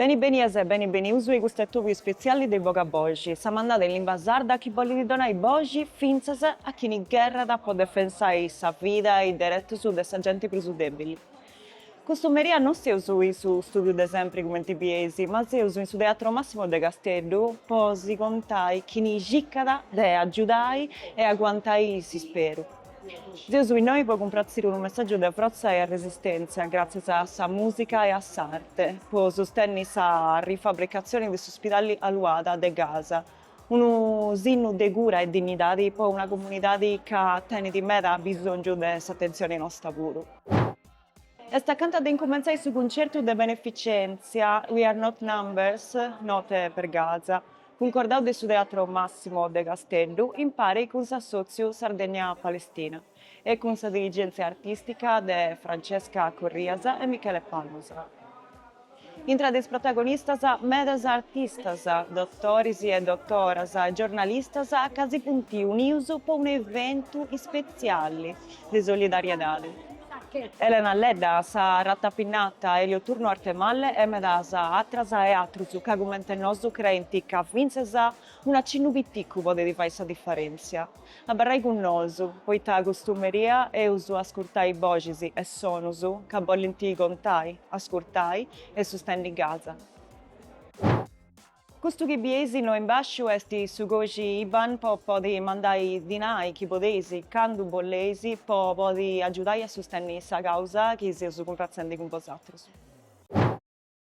Beni benias e beni benius e custu est s'atòbiu ispetziali de Boga Boxi, sa mandada in limba sarda chi bolit donai boxi fintzas a chini gherrat po defensai sa vida e is deretus de sa genti prus debili. Custu meri' a no seus in su studiu de sempri cumenti bieis, ma seus in su Teatro Massimo de Casteddu po si contai chini circat de agiudai e aguantai s'isperu. Seus innoi po cumpratziri unu messàgiu de frotza e arresistèntzia gràtzias a sa mùsica e a s'arte po sustènniri sa rifabricatzioni de s'uspidali Al-Awda de Gaza, unu sinnu de cura e dinnidadi po una comunidadi ca tenit meda abisòngiu de s'atentzioni nosta puru. Est acanta de incumentzai su cuncertu de beneficèntzia We are not numbers, note per Gaza, cuncordau de su Teatro Massimo de Casteddu impari cun s'assòtziu Sardegna-Palestina e cun sa dirigèntzia artìstica de Francesca Corrias e Michele Palmas. Intra de is protagonistas, medas artistas, dotoris e dotoras, giornalistas ca si funt unius po unu eventu ispetziali de solidariedadi. Elena Ledda, sa Ratapignata, Elio Turno Arthemalle e medas atras e atrus ca cument'e nosu creint ca fintzas un'acinnu piticu podit fai sa diferèntzia. Abarrai cun nosu, poita custu merì eus a ascurtai boxis e sonus ca bolint contai, ascurtai e sustenni Gaza. Custu chi bieis innoi in basciu est su còixi IBAN po podi mandai dinai chi podeis, candu boleis, po podi agiudai a sustenni sa causa chi seus cumpratzendi cun bosatrus.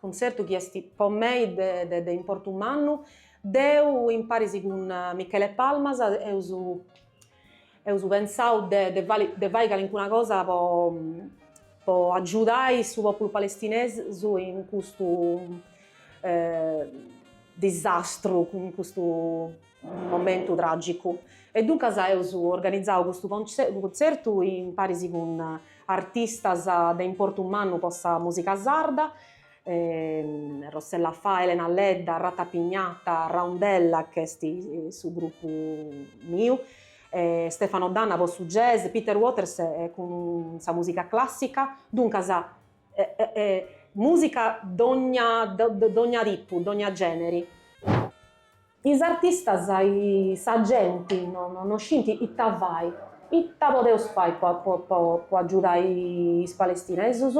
Cuntzertu chi est po mei de de importu mannu, deu imparis cun Michele Palmas eus eus pensau de de fai de fai calincuna cosa po po agiudai su populu palestinesu in custu disastru, in custu momentu tràgicu. E duncas eus organizau custu contzertu imparis cun artistas de importu mannu po sa mùsica sarda, Rossella Faa, Elena Ledda, Ratapignata, Roundella chi est su grupu miu, Stefano D'Anna po su jazz, Peter Waters cun sa mùsica clàssica, duncas mùsica dogna tipu, dogna gèneri. Is artistas e sa genti no scint ita fai, ita podeus fai po agiudai is palestinesus?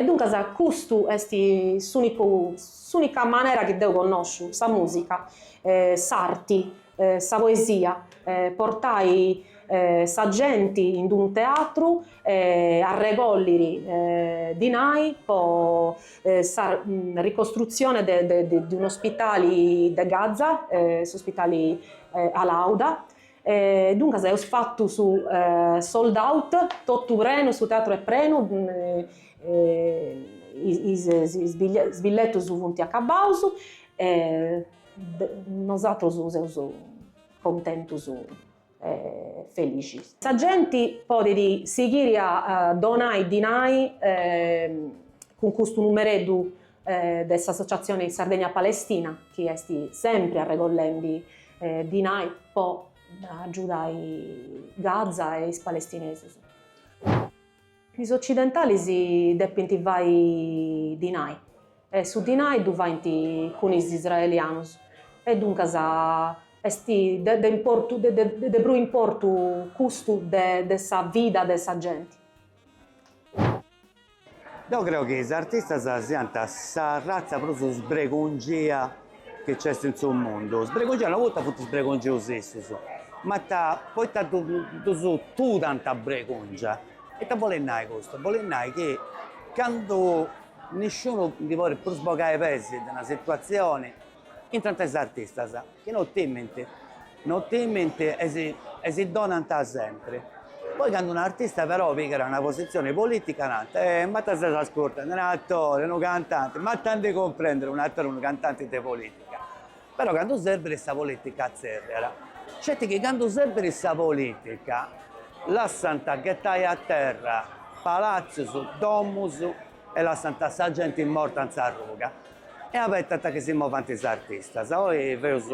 Duncas custu est s'unicu s'unica manera chi deu connosciu, sa musica, s'arti, sa poesia, portai sa genti in d'unu teatru e arregolliri dinai po sa ricostrutzione de un'ospitali de Gaza, s'ospitali Al-Auda, duncas eus fatu su sold out, totu prenu, su teatru est prenu, is billetus funt acabaus e nosatrus seus contentus e felixis. Sa genti podit sighiri a donai dinai cun custu numereddu de s'Associazione Sardegna Palestina chi est sempri arregollendi dinai po agiudai Gaza e is palestinesus. Is occidentalis depint fai dinai e su dinai ddu faint cun is israelianus e duncas est de prus importu custu de sa vida de sa genti. Deu creu chi is artistas siant sa ratza prus sbregungia chi nc'est in su mundu, sbregongiaus, no poita funt sbregongius issus, ma poita ddus totu dant bregongia, ita bolit nai custu, bolit nai chi candu nisciunu ndi podit prus bogai peis de una situatzioni, intrant is artistas, chi no timint No timint e si donant sempri. Poi candu un artista però pigat una posizione politica nant, eh, ma ita ses ascurtendi, un attore, unu cantante, ma ita ndi cumprendit un attore, unu cantante de politica. Però candu serbit sa politica atzerriat. Sceti chi candu serbit sa politica lassant ghettai a terra palazios, domus e lassant sa genti morta in sa ruga. E abetant chi si movant is artistas. Oi feus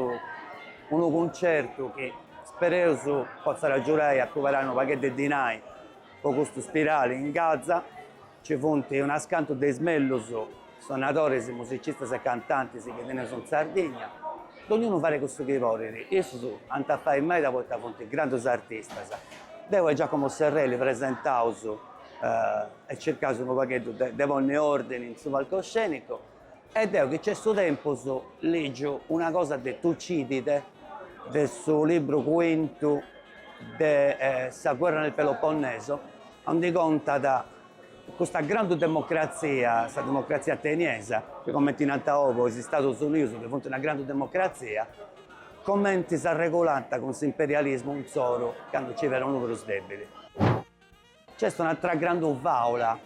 unu cuncertu chi spereus potzat agiudai a cuberai unu pagheddu de dinai po custu spidali in Gaza. Nci funt unas cantus de is mellus sonadoris, musicistas e cantantis chi teneus in Sardigna. Dognunu fait cussu chi podit. Issus ant a fai meda poita funt grandus artistas. Deu e Giacomo Serrelli presentaus. eh, e circaus unu pagheddu de, de ponni ordini in su palcoscenicu, e deu chi nc'est su tempus ligiu una cosa de Tucidide, de su libru cuintu de eh, sa guerra nel Peloponneso, ondi contat custa grandu democrazia, sa democrazia ateniesa, chi comenti nant oi is Istatus Unius chi funt una grandu democrazia, comenti s'arregulànt cun s'imperialismu insoru candu nci fiat unu prus debili. Nc'est un'atra grandu fàula,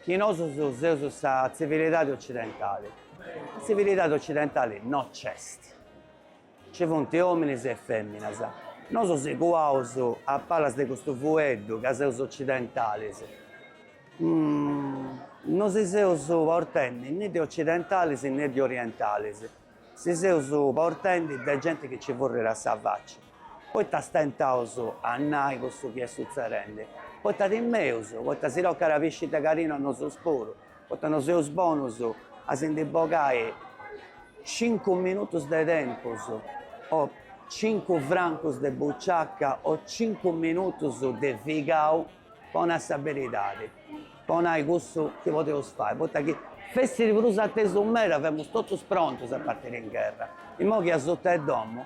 chi nosus seus sa tzivilidadi otzidentali. Sa tzivilidadi otzidentali no nc'est. Nci funt òminis e fèminas. Nosu si cuaus a palas de custu fueddu ca seus otzidentalis. No si seus portendi ne de otzidentalis ne de orientalis. Si seus portendi de genti chi nci furriat sa faci. Poita stentaus a nai cussu chi est sutzedendi? Poita timeus? Poita si tocat a pisci de cadinu a nosus puru? Poita no seus bonus a si ndi bogai cincu minutus de tempus o cincu francus de buciaca o cincu minutus de figau po nai sa beridadi, po nai cussu chi podeus fai? Poita chi fessit prus atesu meda, femus totus prontus a partiri in gherra. Imoi chi asuta 'e domu,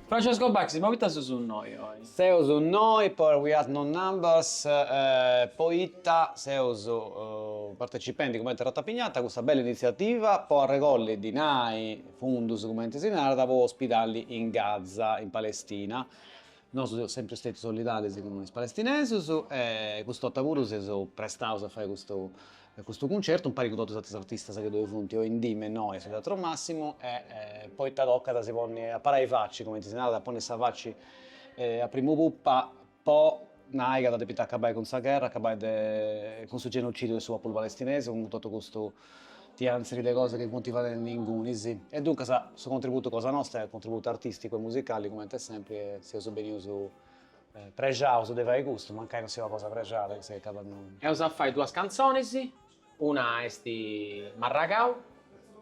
Francesco Bachis, poita seus innoi oi? Seus innoi po We Are Not Numbers poita seus partecipendi cumenti Ratapignata a custa bella initziativa po arregolli dinai, fundus cumenti si narat, po ospidali in Gaza, in Palestina. Nosu seus sempri stetius solidalis cun is palestinesus e cust'ota puru seus prestaus a fai custu Custu cuncertu impari cun totus is atrus artistas chi ddoi funt oindì me innoi in su Teatro Massimo e poita tocat a si ponni a parai faci, cumenti si narat, a ponni sa faci a primu pupa po nai ca dda depit acabai cun sa gherra, acabai cun su genocidiu de su populu palestinesi, cun totu custu tianziri de cosas chi funt fadendi ingunis. E duncas su contributu cosa nosta est contributu artisticu e musicali cumenti est sempri e seus benius Prexaus de fai custu, mancai non siat una cosa prexada chi s'agatat innoi. Eus a fai duas cantzonis, una est Marragau,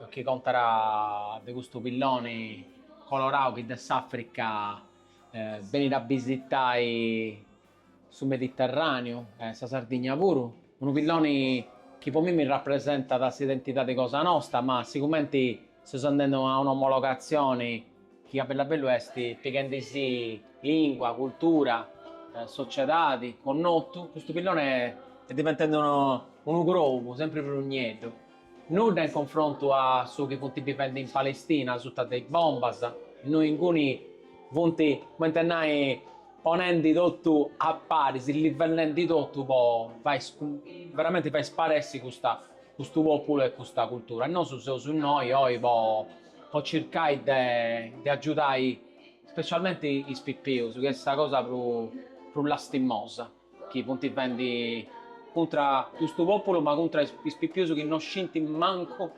chi contat de custu pilloni colorau chi de s'Africa benit a bisitai su Mediterraneu e sa Sardigna puru, unu pilloni chi po mimmi rapresentat s'identidadi cosa nosta, ma sigumenti seus andendi a un'omologatzioni Chi a bellu a bellu est pighendi-sì lingua, cultura, sociedadi, connotu, custu pillone est diventendi unu unu crobu sempri prus nieddu. Nudda in confrontu a su chi funt bivendi in Palestina suta de is bombas, innui inguni funt, cumenti a nai, ponendi totu a paris, livellendi totu po fai veramenti fai sparessi custa custu populu e custa cultura. E nosu seus innoi oi po po circai de de agiudai specialmenti is pipius chi est sa cosa prus lastimosa chi funt fendi cuntra custu populu ma cuntra is pipius chi no scintint mancu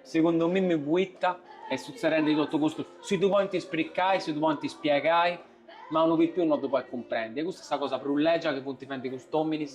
segundu a mimmi puita est sutzedendi totu custu si ddu podint spricai si ddu podint spiegai ma unu pipiu no ddu podit cumprendi e custa est sa cosa prus legia chi funt fendi cust'ominis.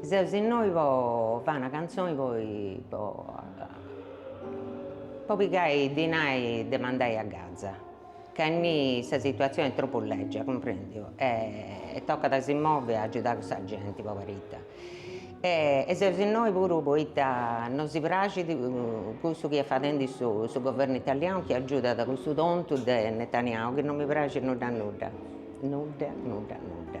Seus innoi po fai una cantzoni po po pigai dinai de mandai a gaza, ca innì sa situatzioni est tropu lègia, cumprendiu, e tocat a si movi a agiudai custa genti poberita e seus innoi puru poita no si praxit cussu chi est fadendi su su governu italianu chi agiudat cussu tontu de Netanyahu chi no mi praxit nudda nudda, nudda nudda nudda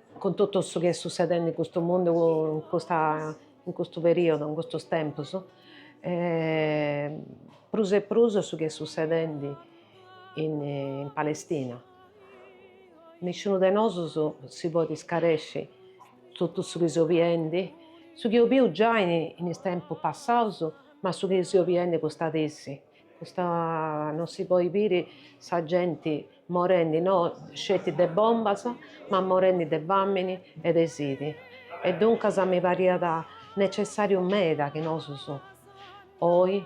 Cun totu su chi est sussedendi in custu mundu in custa in custu periodu in custus tempus prus e prus su chi est sussedendi in Palestina nisciunu de nosus si podit scaresci totu su chi seus biendi su chi eus biu giai in is tempus passaus ma su chi seus biendi custa dì essi Custa non si poi biri sa genti morendi no sceti de bombas ma morendi de famini e de sidi e duncas mi pariat necessariu meda chi nosus oi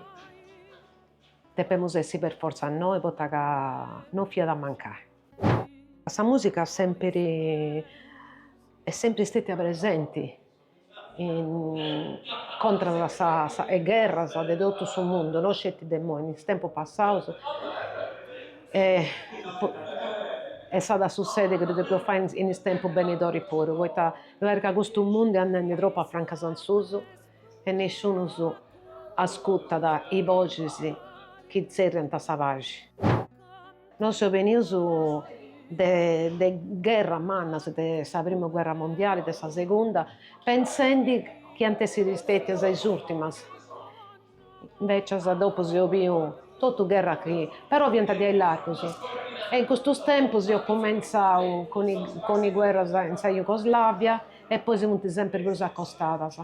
depemus essi per forza innoi poita ca non fiat a mancai. Sa musica sempiri est sempri stetia presenti contras a sa is gherras de totu su mundu, no sceti de imoi, in is tempus passaus e s'at a sussedi chi ddu depeus fai in is tempus benidori puru, poita parit ca custu mundu est andendi tropu a francas a susu e nisciunus ascurtat is boxis chi tzerriant sa paxi. Nosu seus benius de gherras mannas, de sa prima gherra mundiali, de sa segunda, pensendi chi ant essi stètias is ùrtimas, invècias dopu eus biu totu gherras chi però fiant diaici largus. E in custus tempus eus cumentzau cun is guerras in sa Jugoslàvia e poi si funt sempri prus acostadas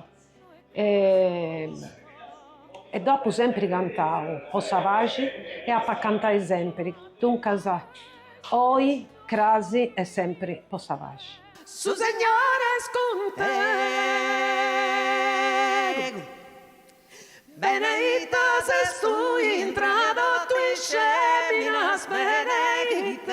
E deu apu sèmpiri cantau po sa paxi e apu a cantai sèmpiri, duncas, oi, cras e sèmpiri po sa paxi. Su Segnore est cun tegus, beneita ses tui intra totus is fèminas, beneit e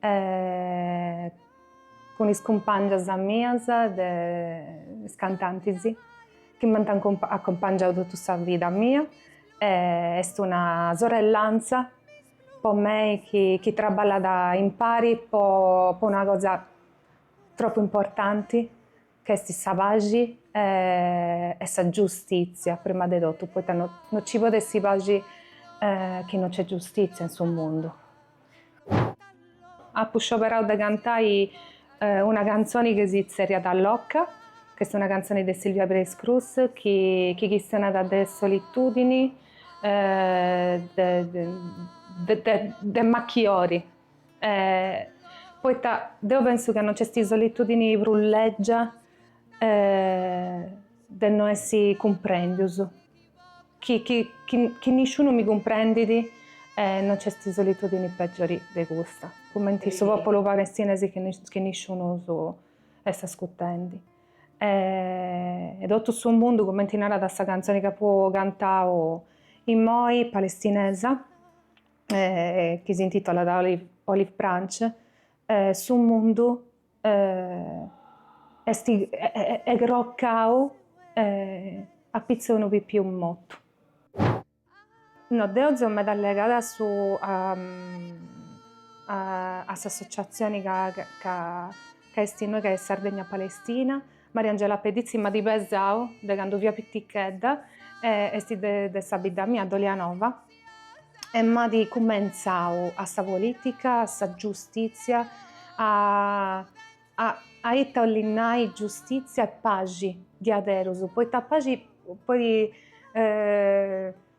e cun is cumpàngias mias de is cantantis chi m'ant acumpangiau totu sa vida mia e est una sorrellantza po mei chi traballat impari po una cosa tropu importanti ch'est sa paxi e sa giustitzia prima de totu, poita no nci podet essi paxi chi no nc'est giustitzia in su mundu. Apu scioberau de cantai una cantzoni chi si tzerriat Loca, ch'est una cantzoni de Sílvia Pérez Cruz chi chi chistionat de solitudini de de de macchiori E poita deu pensu ca non c'esti solitudini prus lègia de no essi cumprèndius, chi chi chi nisciunu mi cumprendit e non c'esti solitudini pègiori de custa, cumenti su pòpulu palestinesi chi nisciunu est ascutendi e totu su mundu cumenti narat sa cantzoni chi apu cantau immoi, palestinesa chi s'intitolat Olive Branch, su mundu est crocau apitzus 'e unu pipiu motu. No deu seu meda alligada a su a s'associazioni ca ca esti innoi ca est Sardegna Palestina, Mariangela Pedditzi m'at pesau de candu fia pitichedda e esti de sa bidda mia Dolianova E m'at cumentzau a sa polìtica, a sa giustìtzia, a a a ita 'olit nai giustìtzia e paxi diaderus, poita paxi poi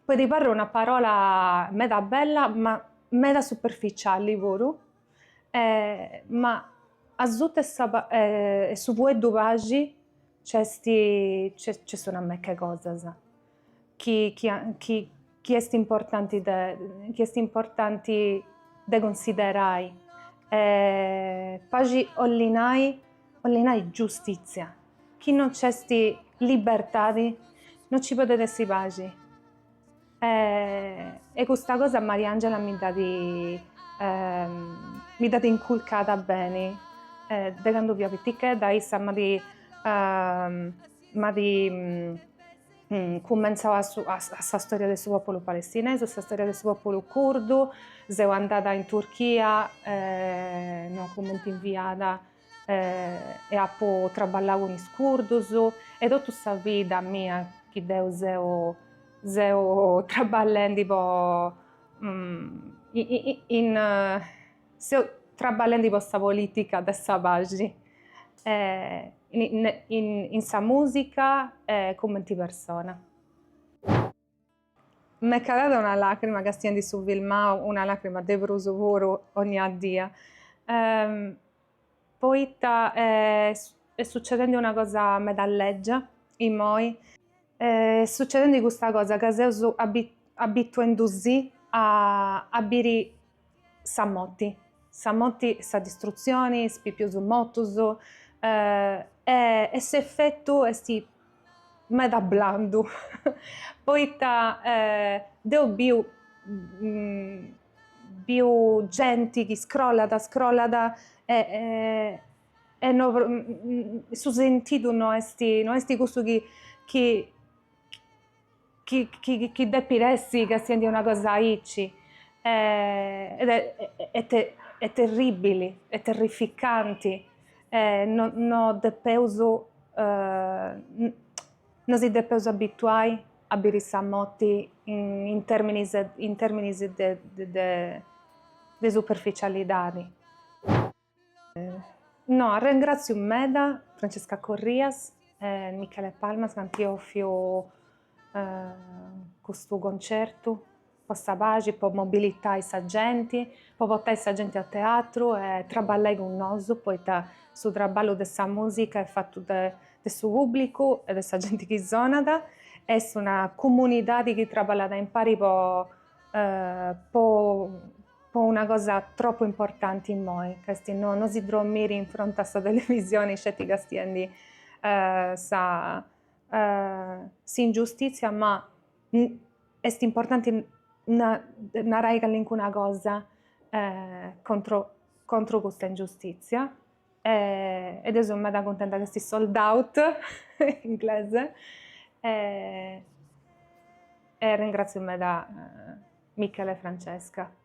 podit parri una parola meda bella ma meda superficiali puru, ma asuta 'e su fueddu paxi nc'est nc'est una meca 'e cosas chi chi est importanti de chi est importanti de cunsiderai e paxi 'olit nai 'olit nai giustitzia, chi non nc'est libertadi non ci podet essi paxi e custa cosa Mariangela mi dd'at mi dd'at inculcada beni de candu fia pitichedda, issa m'at M'at cumentzau a su a sa storia de su pòpulu palestinesu, sa storia de su pòpulu curdu, seu andada in Turchia no a cumenti inviada e apu traballau cun is curdus e totu sa vida mia chi deu seu seu traballendi po in Seu trabballendi po sa polìtica de sa paxi in sa mùsica e cumenti persona. M'est calada una làcrima castiendu su filmau, una làcrima de prus, puru, onnia día. Poita est succedendi una cosa meda lègia immoi. Est succedendi custa cosa ca seus abituendusì a biri sa moti, sa moti e sa distrutzioni, is pipius motus e s'efetu esti meda blandu poita deu biu Biu genti chi scrollat scrollat e e no su sentidu no est no est cussu chi chi chi chi depit essi castiendi una cosa aici est terribili est terrificanti e no no depeus no si depeus abituai a biri sa moti in terminis in terminis de de superficialidadi. No arrengraziu meda Francesca Corrias e Michele Palmas chi ant offiu custu concertu po sa paxi, po mobilitai sa genti, po portai sa genti a teatru e traballai cun nosu, poita su traballu de sa musica est fatu de de su pubblicu e de sa genti chi sonat, est una comunidadi chi traballat impari po po po una cosa tropu importanti immoi, ca est no no si drommiri in fronti a sa televisioni sceti castiendi sa s'ingiustitzia ma Est importanti narai callincuna cosa contro contro custa ingiustizia e deu seu meda cuntenta chi est sold out in inglesu e ringratzio meda Michele e Francesca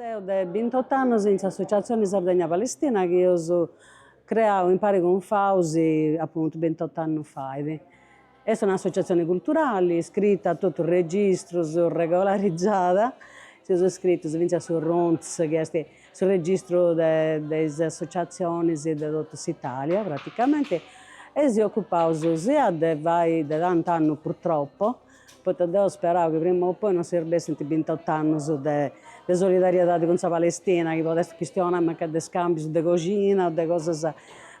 Seu de bintot'annos in s'Associatzione Sardegna Palestina chi eus creau impari cun Fausi apuntu bintot'annos fait. Est un'associatzione culturali iscrita a totus is registrus, regolarizada, seus iscritus fintzas a su Runts chi est su registru de de is associatzionis de totu s'Italia praticamenti e si ocupaus sia de fai de tant'annus purtroppo poita deo sperau chi prima o poi no serbessint bintot'annus de de solidariedadi cun sa Palestina, chi podessit chistionai mancai de scambius de coxina o de cosas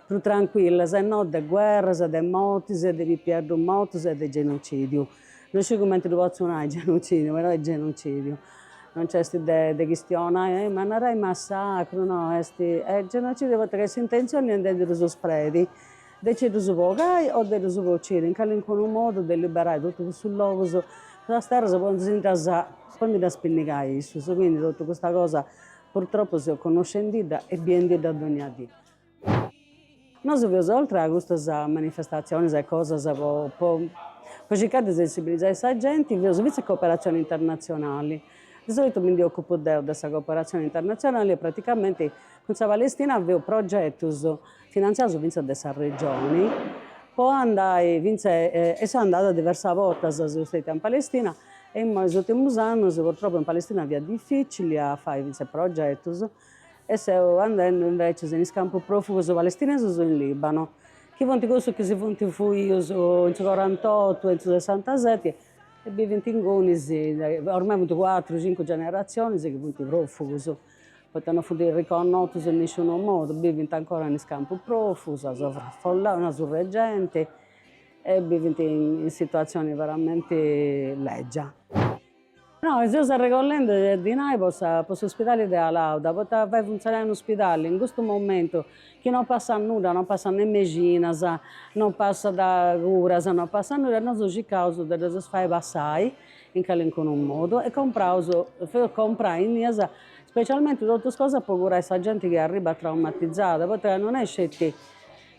prus trancuillas e no de guerras e de mortis e de pipieddus mortus e de genocidiu. No sciu cumenti ddu potzu nai genocidiu, però est genocidiu. Non nc'est de de chistionai, eh ma narai massacru, no, est genocidiu poita ca s'intenzioni est de ndi ddus spredi De nci ddus bogai o de ddus bociri, in calincunu modu de liberai totu cussus logus, cussas terras po ndi si ddas po ndi ddas pinnigai issus, quindi totu custa cosa purtroppu seus connoscendidda e biendidda dogna dì. Nosu faeus oltre a custas manifestatzionis e cosas po po po circai de sensibilizai sa genti, faeus fintzas cooperatzioni internatzionali, de solitu mi ndi ocupu deu de sa cooperatzioni internatzionali e praticamenti cun sa Palestina faeus progetus Finantziaus fintzas de sa Regioni po andai fintzas seu andada diversas bortas seu stada in Palestina e imoi is urtimus annus purtroppu in Palestina fiat dificili a fai fintzas progetus e seu andendu invecias in is campus profugus palestinesus in Libanu chi funt cussus chi si funt fuius in su corantotu e in su sessantaseti e bivint ingunis ormai funt cuatru cincu generatzionis chi funt profugus. poita no funt riconnotus in nisciunu modu, bivint ancora in is campus profugus, sovrafollaus, surr'e genti, e bivint in situatzioni veramenti lègia. Nosu seus arregollendi dinai po sa po s'ospidali de Al-Awda, poita fai funtzionai unu ospidali in custu momentu chi no passat nudda, no passat ne mexinas, no passat curas, no passat nudda e nosu circaus de ddus fai passai in calincunu modu e compraus faeus comprai innias specialmenti totus cosas po curai sa genti chi arribat traumatizada poita ca non est sceti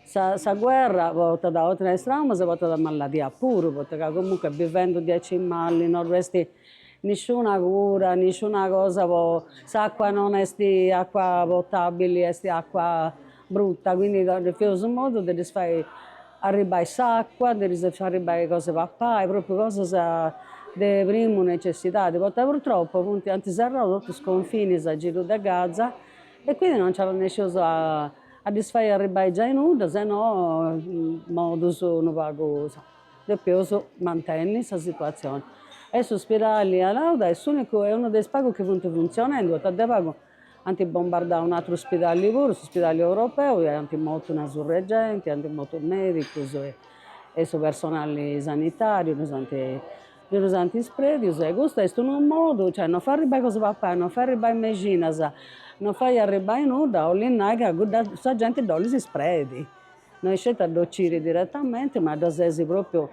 sa sa guerra portat oltre a is traumas portat maladia puru poita ca comunque bivendi diaici mali non dd'est nisciuna cura nisciuna cosa po s'acqua non est acqua potabili est acqua Bruta, quindi faeus su modu de ddis fai arribbai s'acua, de ddis fai arribbai cos'e papai, propriu cosas de primu necessidadi, poita purtroppu funt, ant serrau totus is confinis a giru de Gaza e quindi no nc'arrenesceus a ddis fai arribbai giai nudda, se no in modus unu pagu, depiaus mantenni sa situazioni. E s'uspidali Al-Awda est s'unicu, est unu de is pagus chi funt funtzionendu, poita de pagu Ant bombardau un'atru ospidali puru, s'ospidali europeu, e ant mortu una surr'e genti, ant mortu medicus e su personali sanitariu, ddus ant ddus ant ispredius e custu est unu modu, cioè non fai arribbai cosa papai, non fai arribbai mexinas, non fai arribbai nudda, 'olit nai ca sa genti dd'olis ispredi No isceti a dd'ociri diretamente, ma dda ses propriu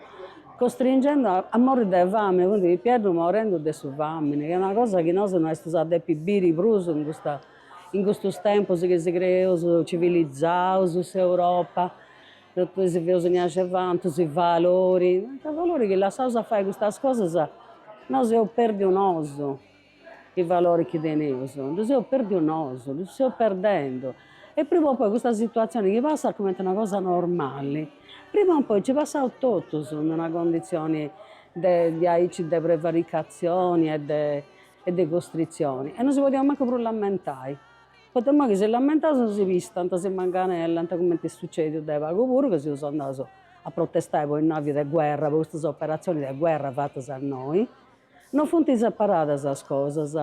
costringendu a morri de famini, funt pipieddus morendu de su famini, chi est una cosa chi nosu no estus a depi biri prus in custa in custus tempus chi si creeus civilizaus, s'Europa, totu si feus aici vantus, is valori, mancai is valori chi lassaus a fai custas cosas nosu eus perdiu nosu Is valoris chi teneus ddus eus perdius nosu, ddus seus perdendu. E prima o poi custa situatzioni chi passat cumenti una cosa normali, prima o poi nci passaus totus in una conditzioni de diaici de prevaricatzioni e de costritzioni. E no si podeus mancu prus lamentai, poita imoi chi si lamentaus nosi pistant, si manganellant, cumenti est sucediu de pagu puru ca seus andaus a protestai po is navis de guerra, po custas operatzioni de guerra fatas a innoi Non funt separadas sas cosas.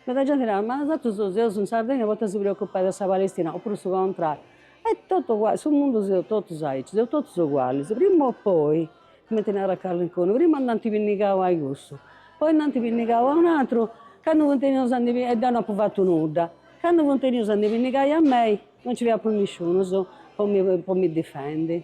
Meda genti narat, ma nosatrus seus in Sardigna poita si preocupai de sa Palestina, opuru su contrariu. Est totu uguali, su mundu seus totus aici, seus totus ugualis, prima o poi, cumenti narat calincunu, prima nd'ant pinnigau a cussu, poi nd'ant pinnigau a un atru, candu funt 'enius a ndi pinnigai, e deu no apu fatu nudda, candu funt 'enius a ndi pinnigai a mei, no nci fiat prus nisciunus po mi po mi difendi.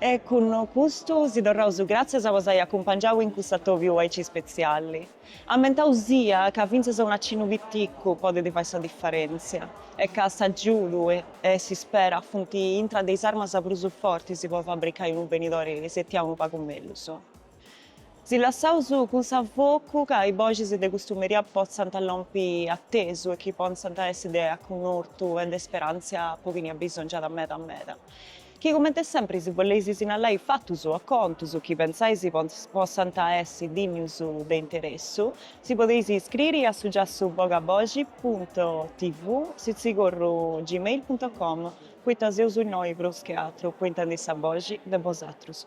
E cun custu si torraus gràtzias po s'ai acumpangiau in cuss'atobiu aici spetziali. Ammentau sia ca fintzas un acinnu piticu podet fai sa diferèntzia e ca s'agiudu e s'ispera funt intra de is armas prus fortis po fabricai unu benidori setiau unu pagu mellus. Si lassaus cun s'afocu ca is boxis de custu meria potzant lompi atesu e chi potzant a essi de acunnortu e de speràntzia po chini abisongiat meda meda. Chi comente sempri si boleis sinallai fatus o contus chi pensais potzant a essi dinnius de interessu, si podeis iscriri a su giassu bogaboxi punto tv sitzigorru gmail punto com, poita seus innoi prus che atru po intendi sa boxi de bosatrus.